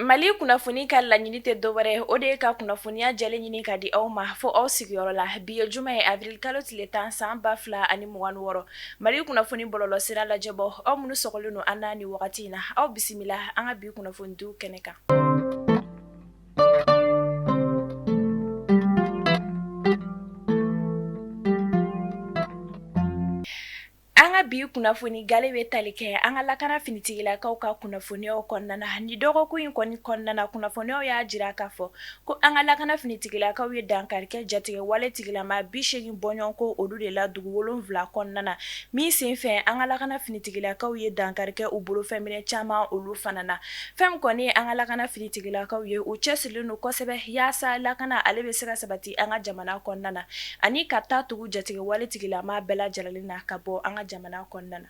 mali kunnafoni ka laɲini tɛ dɔwɛrɛ o de ye ka kunnafoniya jɛlen ɲini ka di aw ma fo aw sigiyɔrɔ la bi ye juma ye avril kalo tile tan san ba fila ani mugan ni wɔɔrɔ mali kunnafoni bɔlɔlɔ sira lajɛbaaw aw minnu sɔgɔlen don an na ni wagati in na aw bisimila an ka bi kunnafonidiw kɛnɛ kan An ka bi kunnafoni gale bɛ tali kɛ an ka lakana finitigilakaw ka kunnafoniyaw kɔnɔna ni dɔgɔkun in kɔni kɔnɔna kunnafoniyaw y'a jira k'a fɔ ko an ka lakana finitigilakaw ye dankarikɛ jatigɛ waletigilama bi seegin bɔɲɔgɔn ko olu de la dugu wolonfila kɔnɔna na min senfɛ an ka lakana finitigilakaw ye dankarikɛ u bolofɛn minɛn caman olu fana na Fɛn min kɔni ye an ka lakana finitigilakaw ye u cɛsirilen don kosɛbɛ yaasa lakana ale bɛ se ka sabati an ka jamana kɔnɔna na ani ka taa tugu jatigɛ waletigilama bɛɛ lajɛlen na ka bɔ an ka jamana kɔnɔna na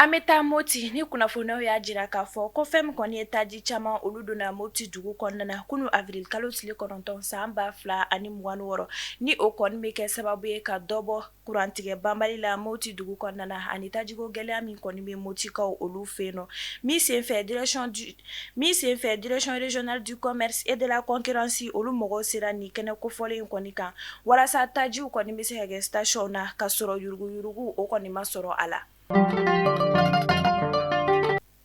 an bɛ taa moti ni kunnafoniyaw y'a jira k'a fɔ ko fɛn min kɔni ye taji caman olu donna moti dugu kɔnɔna na kunun avril kalo tile kɔnɔntɔn san ba fila ani mugan ni wɔɔrɔ ni o kɔni bɛ kɛ sababu ye ka dɔ bɔ kurantigɛ banbali la moti dugu kɔnɔna ani tajiko gɛlɛya min kɔni bɛ motikaw olu fɛ yen nɔ min senfɛ min senfɛ direction régionale du commerce et de la concurrence olu mɔgɔw sera ni kɛnɛ kofɔlen in kɔni kan walasa tajiw kɔni bɛ se ka kɛ stationw na ka sɔrɔ yuruguyurugu o kɔni ma sɔrɔ a la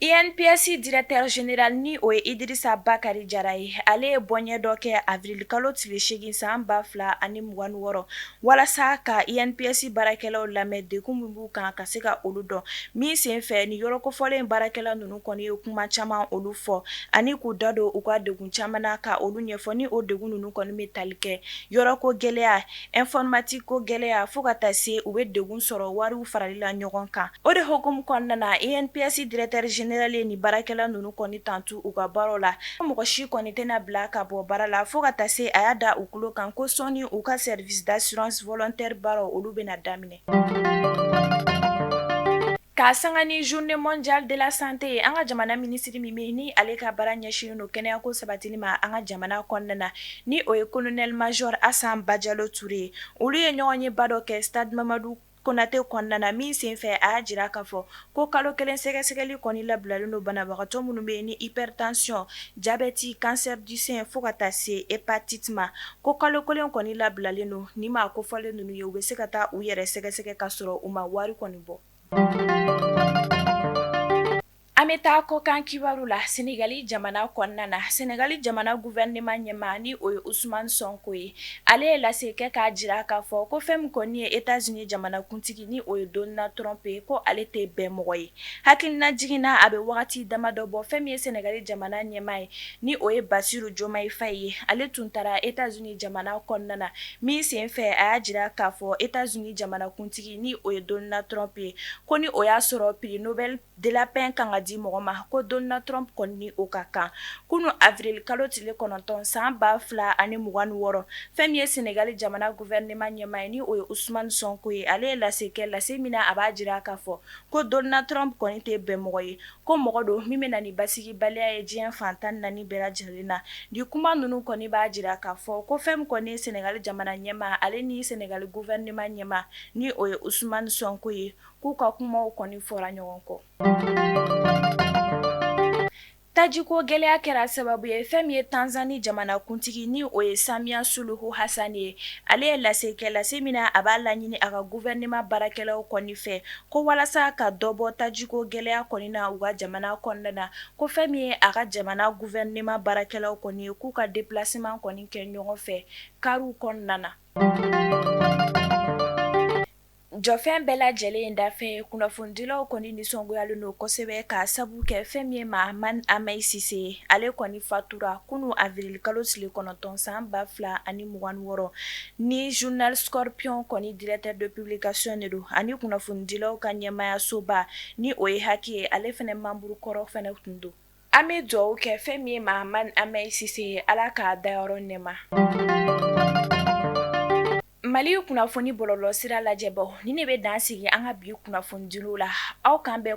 INPS directeur général ni o ye Idirisa Bakari Jara ye, ale ye bɔɲɛ dɔ kɛ avril kalo tile 8 san 2026 walasa ka INPS baarakɛlaw lamɛn degun min b'u kan ka se ka olu dɔn, min senfɛ ni yɔrɔ kofɔlen baarakɛla ninnu kɔni ye kuma caman olu fɔ ani k'u da don u ka degun caman na ka olu ɲɛfɔ ni o degun ninnu kɔni bɛ tali kɛ yɔrɔko gɛlɛya Informatique ko gɛlɛya fo ka taa se u bɛ degun sɔrɔ wariw farali la ɲɔgɔn kan o de hukumu kɔnɔna na INPS directeur général ye ni baarakɛla ninnu kɔni tantu u ka baaraw la ko mɔgɔ si kɔni tɛna bila ka bɔ baara la fo ka taa se a y'a da u tulo kan ko sɔɔni u ka service d'assurance volontaire baaraw olu bɛna daminɛ K'a sanga ni journée mondiale de la santé ye an ka jamana minisiri min bɛ ni ale ka baara ɲɛsinnen don kɛnɛyako sabatili ma an ka jamana kɔnɔna na ni o ye colonel major asan bajalo ture ye olu ye ɲɔgɔnyeba dɔ kɛ stade mamadu konate kɔnɔna na min senfɛ a y'a jira k'a fɔ ko kalo kelen sɛgɛsɛgɛli kɔni labilalen don banabagatɔ minnu bɛ ni hypertension jabɛti cancer du sein fo ka taa se hépatite ma Ko kalo kelen kɔni labilalen don ni maa kofɔlen ninnu ye u bɛ se ka taa u yɛrɛ sɛgɛsɛgɛ ka sɔrɔ u ma wari kɔni bɔ an bɛ taa kɔkan kibaru la sɛnɛgali jamana kɔnɔna na sɛnɛgali jamana gouvernement ɲɛmaa ni o ye usman sɔnko ye ale ye lase kɛ k'a jira k'a fɔ ko fɛn min kɔni ye états-unis jamanakuntigi ni o ye donald trump ye ko ale tɛ bɛn mɔgɔ ye Hakilinajigin na a bɛ wagati dama dɔ bɔ fɛn min ye sɛnɛgali jamana ɲɛmaa ye ni o ye bassirou diomaye faye ye ale tun taara états-unis jamana kɔnɔna na min sen fɛ a y'a jira k'a fɔ états-unis jamanakuntigi ni o ye donald trump ye ko ni o y'a sɔrɔ prix nobel de la paix kan ka di mɔgɔ ma ko donald trump kɔni ni o ka kan kunun avril kalo tile kɔnɔntɔn san ba fila ani mugan ni wɔɔrɔ fɛn min ye sɛnɛgali jamana gouvernement ɲɛmaa ye ni o ye usman sɔnko ye ale ye lase kɛ lase min na a b'a jira k'a fɔ Ko donald trump kɔni tɛ bɛn mɔgɔ ye ko mɔgɔ don min bɛ na ni basigibaliya ye diɲɛ fan tan ni naani bɛɛ lajɛlen na ni kuma ninnu kɔni b'a jira k'a fɔ ko fɛn min kɔni ye sɛnɛgali jamana ɲɛmaa ale ni sɛnɛgali gouvernement ɲɛmaa ni o ye usmani sɔnko ye k'u ka kumaw kɔni fɔra ɲɔgɔn kɔ Tajiko gɛlɛya kɛra sababu ye fɛn min ye tanzani jamanakuntigi ni o ye samiya suluhu hasani ye ale ye lase kɛ lase min na a b'a laɲini a ka gouvernement baarakɛlaw kɔni fɛ ko walasa ka dɔ bɔ tajiko gɛlɛya kɔni na u ka jamana kɔnɔna na ko fɛn min ye a ka jamana gouvernement baarakɛlaw kɔni ye k'u ka déplacement kɔni kɛ ɲɔgɔn fɛ kariw kɔnɔna na Jɔfɛn bɛɛ lajɛlen in dafɛ kunnafonidilaw kɔni nisɔngoyalen don kosɛbɛ k'a sabu kɛ fɛn min ye mahamane hamèye cissé ye ale kɔni fatura kunun avril kalo tile kɔnɔntɔn san ba fila ani mugan ni wɔɔrɔ ni journal scorpion kɔni directeur de publication de don ani kunnafonidilaw ka ɲɛmaayasoba ni o ye HAC ye ale fɛnɛ membre kɔrɔ fɛnɛ tun don An bɛ dugawu kɛ fɛn min ye mahamane hamèye cissé ye ala k'a dayɔrɔ nɛɛma mali kunnafoni bɔlɔlɔ sira lajɛbaw nin de bɛ dan sigi an ka bi kunnafonidili la aw k'an bɛn